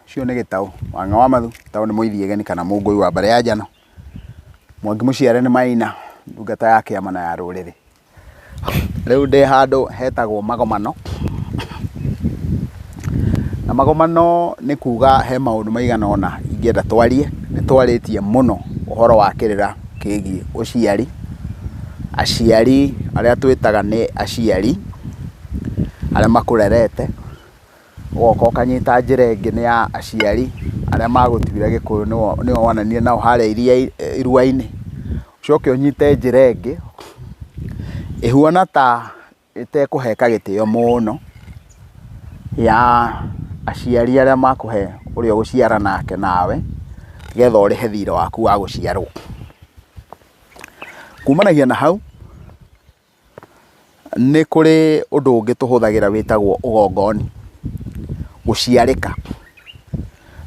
Ũcio nĩ gĩtaũ, wanga wa mathu, gĩtaũ nĩ mũithiageni kana mũngũi wa mbarĩ ya njano. Mwangi mũciare nĩ maina, ndungata ya kĩama na ya rũrĩrĩ. Rĩu ndĩ handũ hetagwo magomano, na magomano nĩ kuga he maũndũ maigana ũna ingĩenda twarie, nĩ twarĩtie mũno ũhoro wa kĩrĩra kĩgiĩ ũciari, aciari arĩa twĩtaga nĩ aciari arĩa makũrerete. ũgoka ũkanyita njĩra ĩngĩ nĩ ya aciari arĩa magũtuire gĩkũyũ nĩo wananire nao harĩa iruainĩ, ũcoke ũnyite njĩra ĩngĩ ĩhuana ta ĩtekũheka gĩtĩo mũno ya aciari arĩa makũhe ũrĩa ũgũciara nake nawe nĩgetha ũrĩhe thirĩ waku wa gũciarwo. Kumanagia na hau. Nĩ kũrĩ ũndũ ũngĩ tũhũthagĩra wĩtagwo ũgongoni, gũciarĩka.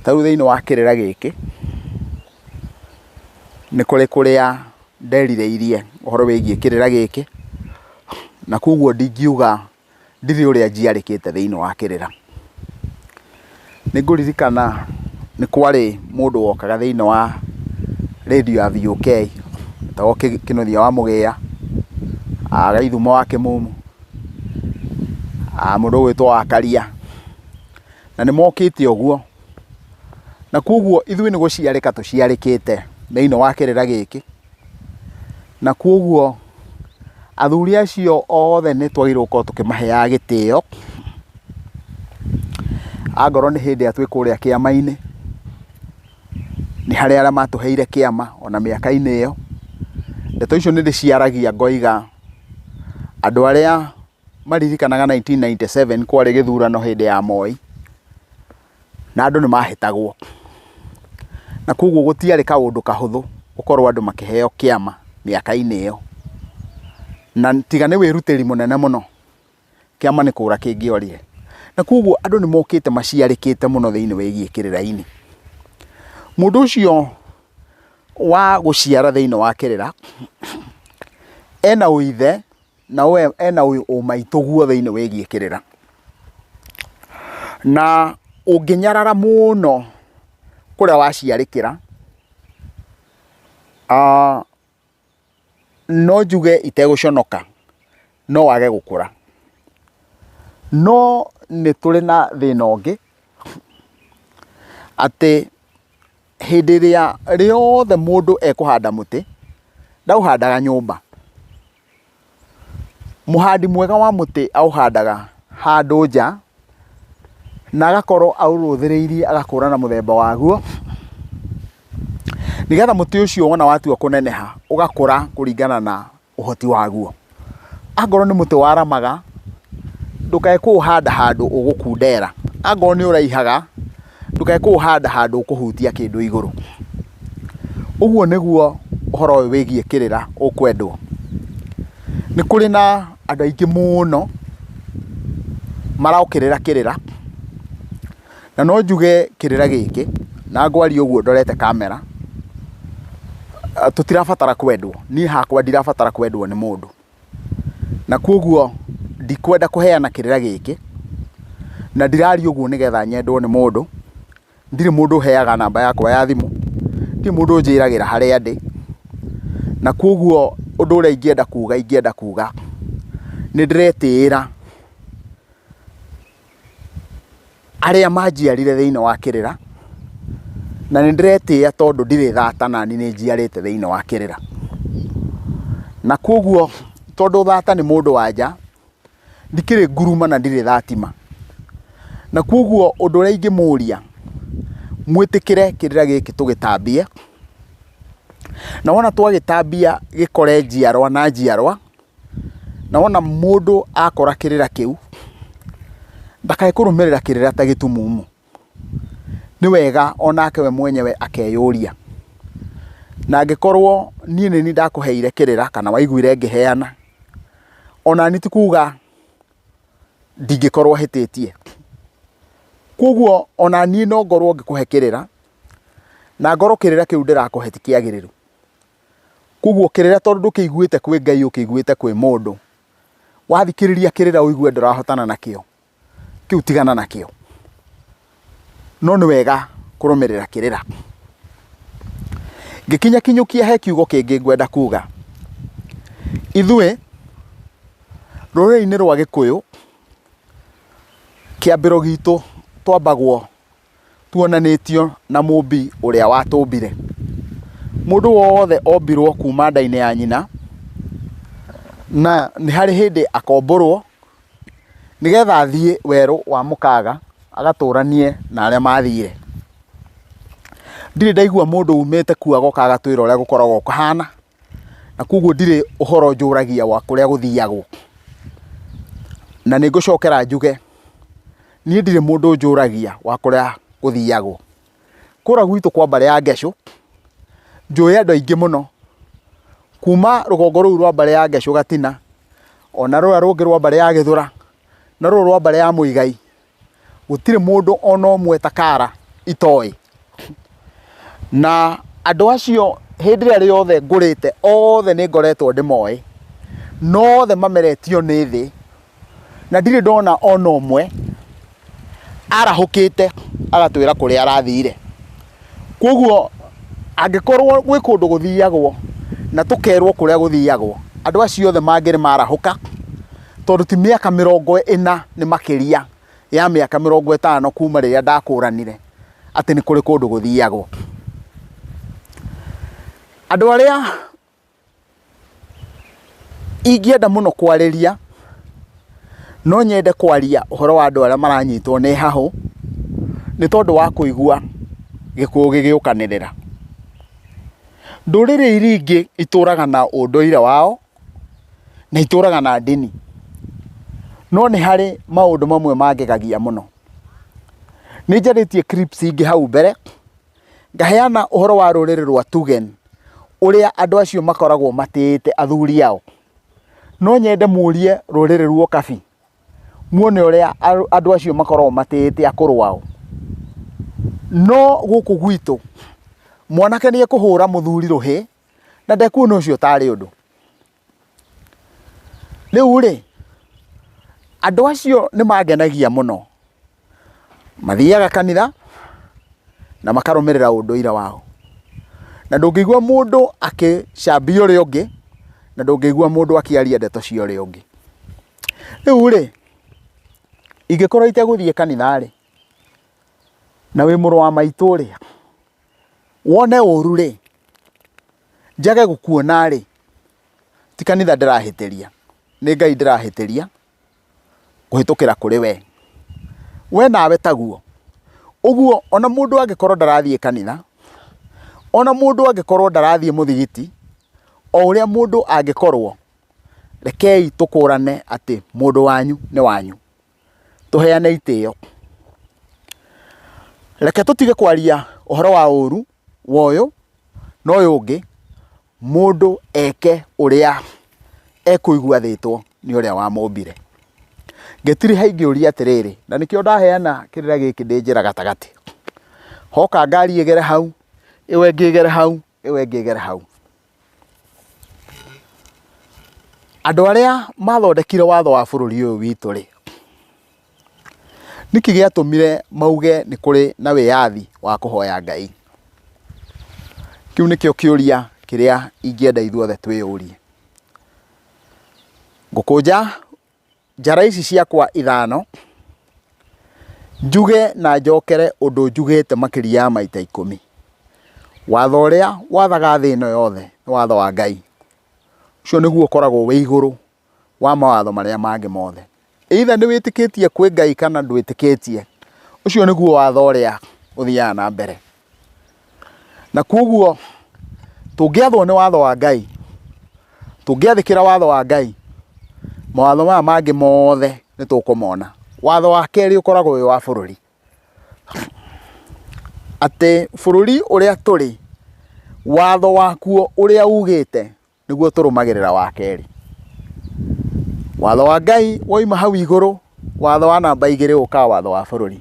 Ta rĩu thĩinĩ wa kĩrĩra gĩkĩ, nĩ kũrĩ kũrĩa nderirĩirie ũhoro wĩgiĩ kĩrĩra gĩkĩ, na kũguo ndingiuga. ndirĩ ũrĩa njiarĩkĩte thĩinĩ wa kĩrĩra. Nĩ ngũririkana nĩ kwarĩ mũndũ wokaga thĩinĩ wa rĩndiũ ya VOK, etagwo Kĩnũthia wa Mũgĩia, wa Gĩthumo wa Kĩmumu, mũndũ ũgwĩtwo Wakaria, na nĩ mokĩte ũguo. Na kwoguo ithuĩ nĩ gũciarĩka tũciarĩkĩte thĩinĩ wa kĩrĩra gĩkĩ. Na kwoguo athuri acio othe nĩ twagĩrĩirwo gũkorwo tũkĩmaheaga gĩtĩo, angorwo nĩ hĩndĩ ĩrĩa twĩ kũrĩa kĩama-inĩ, nĩ harĩ arĩa matũheire kĩama ona mĩaka-inĩ ĩyo. Ndeto icio nĩ ndĩciaragia ngoiga andũ arĩa maririkanaga nineteen ninety seven kwarĩ gĩthurano hĩndĩ ya Moi. na andũ nĩ mahĩtagwo. Na koguo gũtiarĩ kaũndũ kahũthũ gũkorwo andũ makĩheo kĩama mĩaka-inĩ ĩyo. Na tiga nĩ wĩrutĩri mũnene mũno, kĩama nĩ kũũra kĩngĩorire. Na koguo andũ nĩ mokĩte maciarĩkĩte mũno thĩinĩ wĩgiĩ kĩrĩra-inĩ. Mũndũ ũcio wa gũciara thĩinĩ wa kĩrĩra, ena ũithe na we ena ũyũ ũmaitũ guothe-inĩ wĩgiĩ kĩrĩra na ũngĩnyarara mũno kũrĩa waciarĩkĩra ah, no njuge itegũconoka no wage gũkũra no nĩ tũrĩ na thĩna ũngĩ atĩ hĩndĩ ĩrĩa rĩothe mũndũ ekũhanda mũtĩ ndaũhandaga nyũmba Mũhandi mwega wa mũtĩ aũhandaga handũ nja, na agakorwo aũrũthĩrĩirie agakũra na mũthemba waguo, nĩgetha mũtĩ ũcio wona watua kũneneha ũgakũra kũringana na ũhoti waguo. Angorwo nĩ mũtĩ waramaga, ndũkae kũũhanda handũ ũgũkundera, angorwo nĩ ũraihaga, ndũkae kũũhanda handũ ũkũhutia kĩndũ igũrũ. Ũguo nĩguo ũhoro ũyũ wĩgiĩ kĩrĩra ũkwendwo. Nĩ kũrĩ na andũ aingĩ mũno marokĩrĩra kĩrĩra, na no njuge kĩrĩra gĩkĩ, na ngwaria ũguo ndorete kamera, tũtirabatara kwendwo, niĩ hakwa ndirabatara kwendwo nĩ mũndũ. na kwoguo ndikwenda kũheana kĩrĩra gĩkĩ, na ndiraria ũguo nĩgetha nyendwo nĩ mũndũ, ndirĩ mũndũ ũheaga namba yakwa ya thimũ, ndirĩ mũndũ ũnjĩragĩra harĩa ndĩ, na kwoguo ũndũ ũrĩa ingĩenda kuga ingĩenda kuga nĩndĩretĩĩra. arĩa manjiarire thĩinĩ wa kĩrĩra, na nĩ ndĩretĩĩa tondũ ndirĩ thata nani nĩ njiarĩte thĩinĩ wa kĩrĩra. Na kwoguo tondũ thata nĩ mũndũ wa nja, ndikĩrĩ nguruma na ndirĩ thatima. Na kwoguo ũndũ ũrĩa ingĩmũria, mwĩtĩkĩre kĩrĩra gĩkĩ tũgĩtambie, na wona twagĩtambia gĩkore njiarwa na njiarwa. Na wona mũndũ akora kĩrĩra kĩu, ndakae kũrũmĩrĩra kĩrĩra ta gĩtumumu. Nĩ wega onake we mwenyewe akeyũria, na angĩkorwo niĩ nĩ niĩ ndakũheire kĩrĩra kana waiguire ngĩheana, ona niĩ ti kuga ndingĩkorwo hĩtĩtie. Koguo ona niĩ no ngorwo ngĩkũhe kĩrĩra, na ngorwo kĩrĩra kĩu ndĩrakũhe ti kĩagĩrĩru. Koguo kĩrĩra tondũ ndũkĩiguĩte kwĩ Ngai ũkĩiguĩte kwĩ mũndũ, wathikĩrĩria kĩrĩra ũigue ndũrahotana nakĩo, kĩu tigana nakĩo. No nĩ wega kũrũmĩrĩra kĩrĩra. Ngĩkinyakinyũkia he kiugo kĩngĩ ngwenda kuga. Ithuĩ rũrĩrĩ-inĩ rwa Gĩkũyũ, kĩambĩro gitũ twambagwo tuonanĩtio na mũmbi ũrĩa watũmbire. Mũndũ wothe ombirwo kuma nda-inĩ ya nyina, na nĩ harĩ hĩndĩ akombũrwo nĩgetha athiĩ werũ wa mũkaga agatũranie na arĩa mathire. Ndirĩ ndaigua mũndũ umĩte kuo agoka agatwĩra ũrĩa gũkoragwo kũhana. na koguo ndirĩ ũhoro njũragia wa kũrĩa gũthiagwo. Na nĩ ngũcokera njuge, niĩ ndirĩ mũndũ njũragia wa kũrĩa gũthiagwo. Kũũrĩa gwitũ kwa mbarĩ ya Ngeshũ, njũĩ andũ aingĩ mũno, kuuma rũgongo rũu rwa mbarĩ ya Ngeshũ Gatina, ona rũrĩa rũngĩ rwa mbarĩ ya Gĩthũra, na rũrũ rwa mbarĩ ya Mũigai, gũtirĩ mũndũ ona ũmwe ta kara itoĩ. Na andũ acio hĩndĩ ĩrĩa rĩothe ngũrĩte othe nĩ ngoretwo ndĩmoĩ, nothe mameretio nĩ thĩ na ndirĩ ndona ona ũmwe arahũkĩte agatwĩra kũrĩa arathire. Kwoguo angĩkorwo gwĩ kũndũ gũthiagwo na tũkerwo kũrĩa gũthiagwo, andũ acio othe mangĩrĩ marahũka, tondũ ti mĩaka mĩrongo ĩna nĩ makĩria ya mĩaka mĩrongo ĩtano kuma rĩrĩa ndakũranire atĩ nĩ kũrĩ kũndũ gũthiagwo. Andũ arĩa... Ingĩenda mũno kwarĩria, no nyende kwaria ũhoro wa andũ arĩa maranyitwo nĩ hahũ, nĩ tondũ wa kũigua gĩkuũ gĩgĩũkanĩrĩra. Ndũrĩrĩ iria ingĩ itũraga na ũndũire wao, na itũraga na ndini, no nĩ harĩ maũndũ mamwe mangĩgagia mũno. Nĩ njarĩtie clips ingĩ hau mbere. Ngaheana ũhoro wa rũrĩrĩ rwa Tugen, ũrĩa andũ acio makoragwo matĩĩte athuri ao. No nyende mũrie rũrĩrĩ rwa Okabi, muone ũrĩa andũ acio makoragwo matĩĩte akũrũ ao. No gũkũ gwitũ, mwanake nĩ ekũhũra mũthuri rũhĩ, na ndekuona ũcio tarĩ ũndũ. Rĩu-rĩ, andũ acio nĩ mangenagia mũno. Mathiaga kanitha na makarũmĩrĩra ũndũire wao. Na ndũngĩigua mũndũ akĩcambia ũrĩa ũngĩ, na ndũngĩigua mũndũ akĩaria ndeto cia ũrĩa ũngĩ. Rĩu-rĩ, ingĩkorwo itegũthiĩ kanitha-rĩ, na wĩ mũrũ wa maitũ-rĩ, wone ũru-rĩ... njage gũkuona rĩ ti kanitha ndĩrahĩtĩria nĩ Ngai ndĩrahĩtĩria kũhĩtũkĩra kũrĩ we we nawe taguo ũguo ona mũndũ angĩkorwo ndarathiĩ kanitha ona mũndũ angĩkorwo ndarathiĩ mũthigiti o ũrĩa mũndũ angĩkorwo rekei tũkũrane atĩ mũndũ wanyu nĩ wanyu. tũheane itĩo. Reke tũtige kwaria ũhoro wa ũru wa ũyũ na ũyũ ũngĩ, mũndũ eke ũrĩa ekũigua athĩtwo nĩ ũrĩa wamũmbire. Ngĩtiriha ingĩũria atĩrĩrĩ, na nĩkĩo ndaheana kĩrĩra gĩkĩ ndĩ njĩra gatagatĩ, hoka ngari ĩgere hau, ĩyo ĩngĩ ĩgere hau, ĩyo ĩngĩ ĩgere hau. Andũ arĩa mathondekire watho wa bũrũri ũyũ witũ rĩ, nĩkĩ gĩatũmire mauge nĩ kũrĩ na wĩyathi wa kũhoya Ngai? Kĩu nĩkĩo kĩũria kĩrĩa ingĩenda ithuothe twĩyũrie. Ngũkũnja. Njara ici ciakwa ithano, njuge na njokere ũndũ njugĩte makĩria ya maita ikũmi. Watho ũrĩa wathaga thĩ ĩno yothe nĩ watho wa Ngai. Ũcio nĩguo ũkoragwo wĩ igũrũ wa mawatho marĩa mangĩ mothe. Either nĩ wĩtĩkĩtie kwĩ Ngai kana ndwĩtĩkĩtie, ũcio nĩguo watho ũrĩa ũthiaga na mbere. Na kwoguo tũngĩathwo nĩ watho wa Ngai, tũngĩathĩkĩra watho wa Ngai, mawatho maya mangĩ mothe nĩ tũkũmona. Watho wa kerĩ ũkoragwo wĩ wa bũrũri, atĩ bũrũri ũrĩa tũrĩ, watho wakuo ũrĩa ugĩte. nĩguo tũrũmagĩrĩra wa kerĩ. Watho wa Ngai woima hau igũrũ, watho wa namba igĩrĩ ũkaga watho wa bũrũri.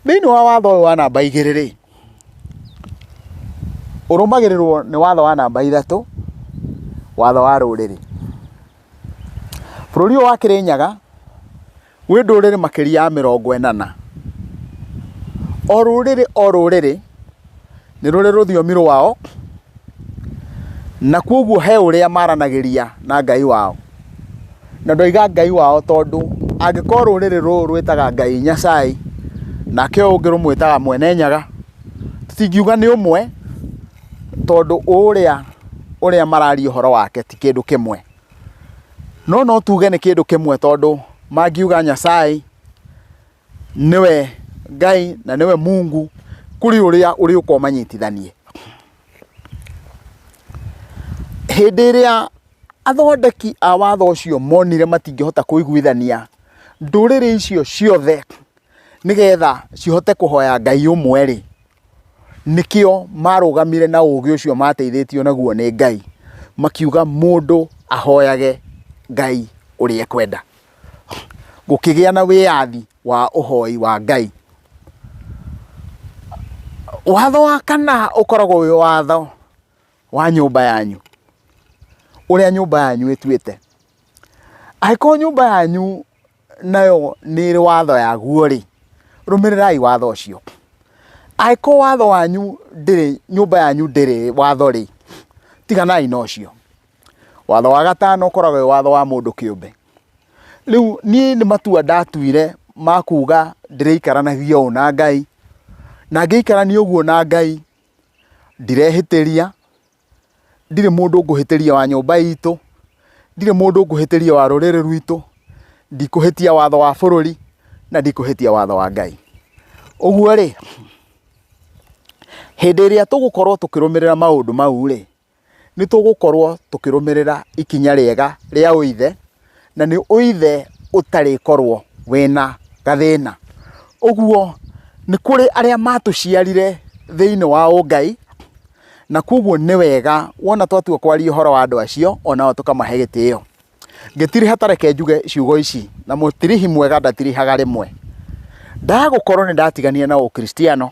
Thĩinĩ wa watho ũyũ wa namba igĩrĩ rĩ, ũrũmagĩrĩrwo nĩ watho wa namba ithatũ, watho wa rũrĩrĩ. Bũrũri ũyũ wa Kĩrĩnyaga Gwĩ ndũrĩrĩ makĩria ya mĩrongo ĩnana, o rũrĩrĩ o rũrĩrĩ nĩ rũrĩ rũthiomi rwao, na kwoguo he ũrĩa maranagĩria na Ngai wao. Na ndoiga Ngai wao tondũ angĩkorwo rũrĩrĩ rũrũ rwĩtaga Ngai Nyacai, nake ũyũ ũngĩ rũmwĩtaga Mwene Nyaga, tũtingiuga nĩ ũmwe tondũ ũrĩa ũrĩa mararia ũhoro wake ti kĩndũ kĩmwe. No no tuge nĩ kĩndũ kĩmwe tondũ mangiuga Nyasaye nĩwe Ngai na nĩwe Mungu kũrĩ ũrĩa ũrĩ ũka ũmanyitithanie. Hĩndĩ ĩrĩa athondeki a watho ũcio monire matingĩhota kũiguithania ndũrĩrĩ icio ciothe nĩgetha cihote kũhoya Ngai ũmwe-rĩ, Nĩkĩo marũgamire na ũgĩ ũcio mateithĩtio naguo nĩ Ngai, makiuga mũndũ ahoyage Ngai ũrĩa ekwenda. Gũkĩgĩa na wĩyathi wa ũhoi wa Ngai. Watho wa kana ũkoragwo wĩ watho wa nyũmba yanyu, ũrĩa nyũmba yanyu ĩtuĩte. Angĩkorwo nyũmba yanyu... nayo nĩ ĩrĩ watho yaguo-rĩ, rũmĩrĩrai watho ũcio. Angĩkorwo watho wanyu ndĩrĩ, nyũmba yanyu ndĩrĩ watho-rĩ, tiganai na ũcio. Watho wa gatano ũkoragwo wĩ watho wa mũndũ kĩũmbe. Rĩu niĩ nĩ matua ndatuire ma kuga ndĩrĩikaranagia ũũ na Ngai, na ngĩikarania ũguo na Ngai, ndirehĩtĩria, ndirĩ mũndũ ngũhĩtĩria wa nyũmba itũ, ndirĩ mũndũ ngũhĩtĩria wa rũrĩrĩ rwitũ, ndikũhĩtia watho wa bũrũri, na ndikũhĩtia watho wa Ngai. Ũguo rĩ, hĩndĩ ĩrĩa tũgũkorwo tũkĩrũmĩrĩra maũndũ mau rĩ, nĩ tũgũkorwo tũkĩrũmĩrĩra ikinya rĩega rĩa ũithe, na nĩ ũithe ũtarĩkorwo wĩna gathĩna. Ũguo nĩ kũrĩ arĩa matũciarire thĩinĩ wa ũngai, na koguo nĩ wega wona twatua kwaria ũhoro wa andũ acio onao tũkamahe gĩtĩo. Ngĩtiriha ta reke njuge ciugo ici, na mũtirihi mwega ndatirihaga rĩmwe. Ndagũkorwo nĩ ndatiganire na ũkristiano,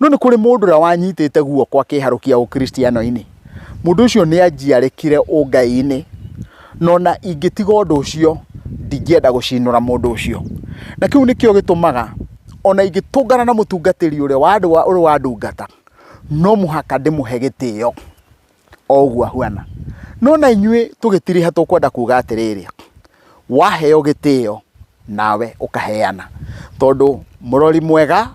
No nĩ kũrĩ mũndũ ũrĩa wanyitĩte guoko akĩharũkia ũkristiano-inĩ. Mũndũ ũcio nĩ anjiarekire ũngai-inĩ, no na ingĩtiga ũndũ ũcio ndingĩenda gũcinũra mũndũ ũcio. Na kĩu nĩkĩo gĩtũmaga ona ingĩtũngana na mũtungatĩri ũrĩa wa andũ ũrĩa wandungata, no mũhaka ndĩmũhe gĩtĩo. o ũguo ahuana. No na inyuĩ tũgĩtiriha tũkwenda kuga atĩrĩrĩ, waheo gĩtĩo nawe ũkaheana, tondũ mũrori mwega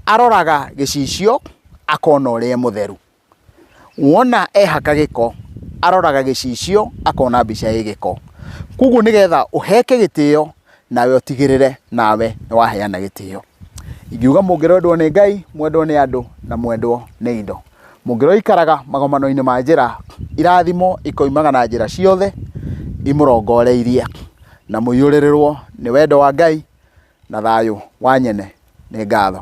aroraga gĩcicio akona ũrĩa e mũtheru, wona ehaka gĩko aroraga gĩcicio akona mbica ĩ gĩko. Koguo nĩgetha ũheke gĩtĩo... nawe ũtigĩrĩre nawe nĩ waheana gĩtĩo. Ingiuga mũngĩrendwo nĩ Ngai, mwendwo nĩ andũ na mwendwo nĩ indo. Mũngĩrwo ikaraga magomano-inĩ ma njĩra, irathimo ikoimaga na njĩra ciothe imũrongoreirie, na mũiyũrĩrĩrwo nĩ wendo wa Ngai na thayũ wa nyene. Nĩ ngatho.